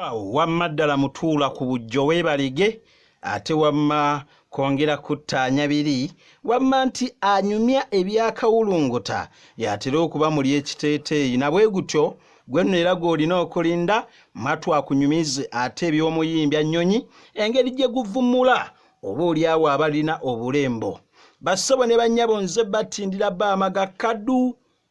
awo wamma ddala mutuula ku bujjo weebalege ate wamma kwongera kuttaanya biri wamma nti anyumya ebyakawulunguta y'atera okuba muli ekiteeteeyi na bwe gutyo gwe nno era gw'olina okulinda mwatu akunyumize ate eby'omuyimbya nnyonyi engeri gye guvumula oba oli awo abalina obulembo bassebo ne bannyabo nze battindira baamaga kadu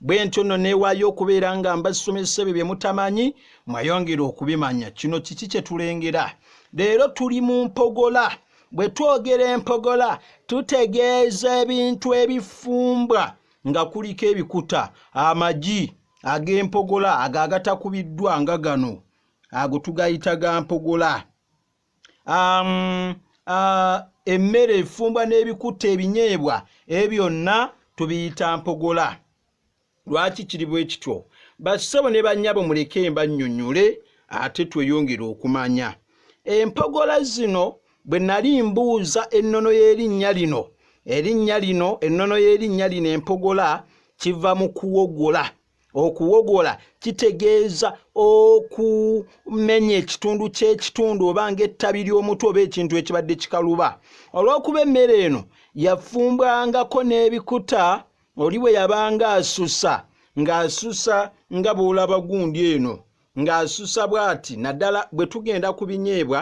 bwe ntyo nno neewaayo okubeera nga mbasomesa ebyo bye mutamanyi mwayongera okubimanya kino kiki kye tulengera leero tuli mu mpogola bwe twogera empogola tutegeeza ebintu ebifumbwa nga kuliko ebikuta amagi ag'empogola ago agatakubiddwa nga gano ago tugayita ga mpogola um, uh, emmere efumbwa n'ebikuta ebinyeebwa ebyo byonna tubiyita mpogola lwaki kiri bwe kityo bassebo ne bannyabo muleke mbannyonnyole ate tweyongere okumanya empogola zino bwe nali mbuuza ennono y'erinnya lino erinnya lino ennono y'erinnya lino empogola kiva mu kuwogola okuwogola kitegeeza okumenya ekitundu ky'ekitundu oba ng'ettabi ly'omutu oba ekintu ekibadde kikaluba olw'okuba emmere eno yafumbwangako n'ebikuta oli bwe yabanga asusa ng'asusa nga bw'olaba gundi eno ng'asusa bw'ati naddala bwe tugenda ku binyeebwa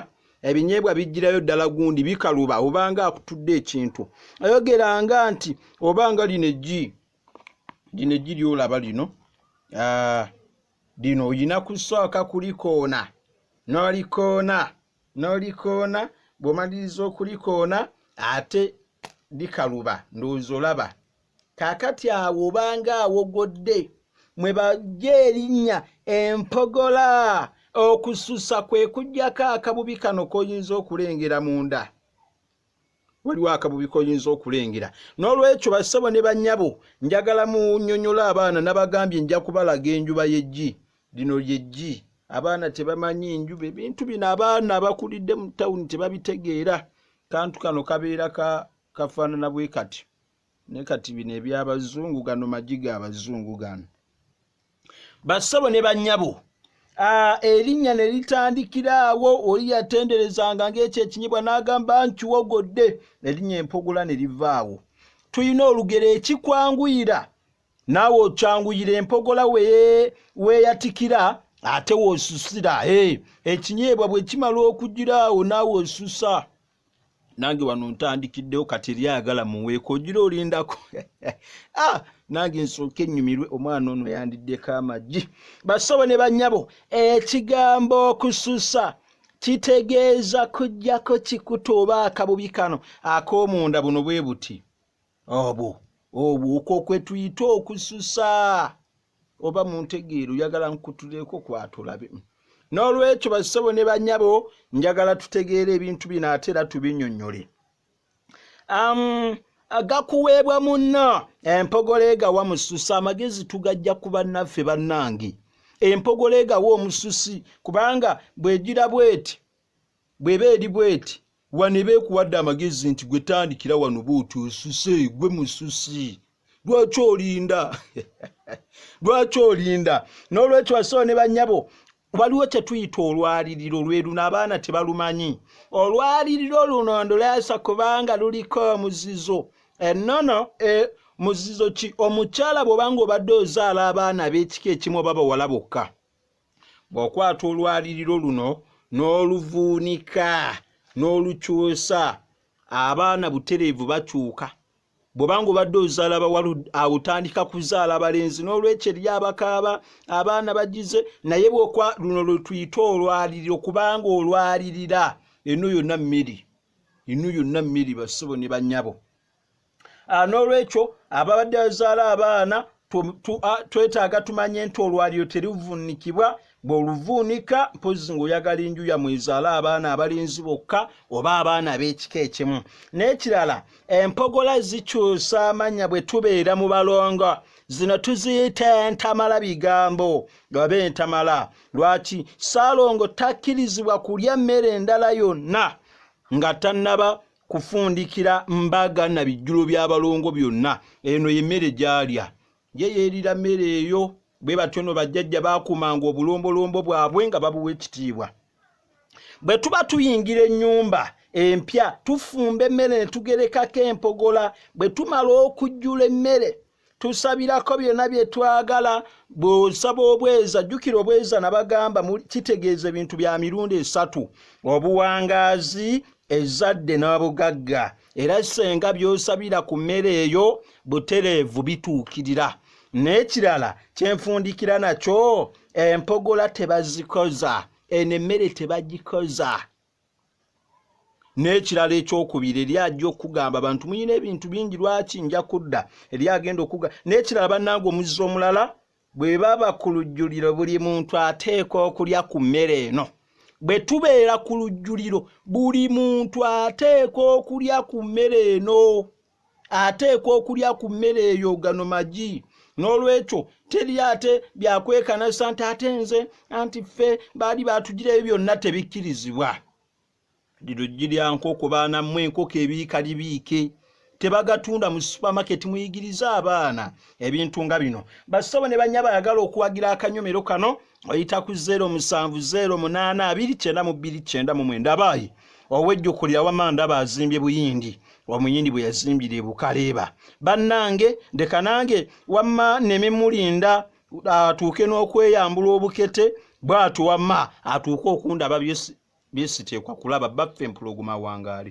ebinyeebwa bijjirayo ddala gundi bikaluba obanga akutudde ekintu ayogeranga nti obanga lino eggi gino eggi lyolaba lino ah, lino olina kusooka kulikoona n'olikoona n'olikoona bw'omaliriza okulikoona ate likaluba ndowooza olaba kaakati awo obanga awogodde mwe bajja erinnya empogola okususa kwe kujjako akabubi kano k'oyinza okulengera munda waliwo akabubi koyinza okulengera n'olwekyo bassebo ne banyabo njagala munyonyola abaana nabagambye nja kubalaga enjuba yeggi lino lyeggi abaana tebamanyi njuba ebintu bino abaana abakulidde mu tawuni tebabitegeera kantu kano kabeera kafaanana bwe kati naye kati bino ebyabazungu gano magi ga bazungu gano bassebo ne bannyabo erinnya ne litandikira awo oli yatenderezanga ng'ekyo ekinyibwa n'agamba nkiwogodde erinnya empogola ne livaawo tulina olugero ekikwanguyira naawe okyanguyira empogola weeyatikira ate woosusira ekinyeebwa bwe kimala okugira awo naawe osusa nange wano ntandikiddewo kati eri ayagala muweeko ogira olindako ah, nange nsooka ennyumirwe omwana ono yandiddeko amagi basobo ne bannyabo ekigambo okususa kitegeeza kujjako kikuta oba akabubi kano ak'omunda buno bwe buti obwo obwo okwo kwe tuyita okususa oba muntegeera oyagala nkutuleko kwatulabe n'olwekyo basebo ne banyabo njagala tutegeera ebintu bino ate era tubinyonyole um, gakuweebwa munna empogola egawa mususa amagezi tugajja ku bannaffe bannange empogola egawa omususi kubanga bwegira bweti bweba eri bweti wano eba ekuwadde amagezi nti gwe tandikira wano bwoti osuse gwe mususi lwaki olinda lwaki olinda n'olwekyo basawo ne banyabo waliwo kyetuyita olwaliriro lweruno abaana tebalumanyi olwaliriro luno ndulaasa kubanga luliko omuzizo enono e, muzizo ki omukyala bwobanga obadde ozaala abaana ab'ekika ekimu oba bawala bokka bw'okwata olwaliriro luno n'oluvuunika n'olukyusa abaana butereevu bakyuka bw'oba nga obadde ozaala bawala awo otandika kuzaala balenzi n'olwekyo eri abakaaba abaana bagize naye bwokwa luno lwe tuyita olwaliriro kubanga olwalirira eno yonna mmiri eno yonna mmiri bassebo ne bannyabo ah, n'olwekyo ababadde bazaala abaana ah, twetaaga tumanye nti olwaliro terivuunikibwa bw'oluvuunika mpozi ng'oyagala enju yamwe ezaala abaana abalenzi bokka oba abaana b'ekika ekimu n'ekirala empogola zikyusa amannya bwe tubeera mu balongo zino tuziyita entamala bigambo oba entamala lwaki saalongo takkirizibwa kulya mmere endala yonna nga tannaba kufundikira mbaga na bijjulo by'abalongo byonna eno y'emmere gyalya ye yeerira mmere eyo bwe batyo no bajjajja baakuumanga obulombolombo bwabwe nga babuwa ekitiibwa bwe tuba tuyingira ennyumba empya tufumba emmere ne tugerekako empogola bwe tumala okujjula emmere tusabirako byonna bye twagala bw'osaba obweza jjukira obweza nabagamba kitegeeza ebintu bya mirundi esatu obuwangaazi ezadde n'obugagga era senga by'osabira ku mmere eyo butereevu bituukirira n'ekirala kyenfundikira nakyo empogola tebazikoza eno emmere tebagikoza n'ekirala ekyokubiri eri ajja okugamba abantu muyina ebintu bingi lwaki nja kudda eri agenda okuga n'ekirala bannanga omuzzi omulala bwe baba ku lujjuliro buli muntu ateekwa okulya ku mmere eno bwe tubeera ku lujjuliro buli muntu ateekwa okulya ku mmere eno ateekwa okulya ku mmere eyo gano magi n'olwekyo teri ate byakwekanasa nti ate nze anti ffe baali baatugirayo byonna tebikkirizibwa liruggi lya nkoko baana mmwe enkoko ebiika libiike tebagatunda mu supamaketi muyigirize abaana ebintu nga bino bassabo ne banya bayagala okuwagira akanyomero kano oyita ku 07082929 abaayi owejjukulira wama ndaba azimbye buyindi wamuyindi bwe yazimbira e bukaleeba bannange ndeka nange wamma neme mulinda atuuke n'okweyambula obukete bw'atu wamma atuuke okundaba byesiteekwa kulaba baffe empulogoma wangaali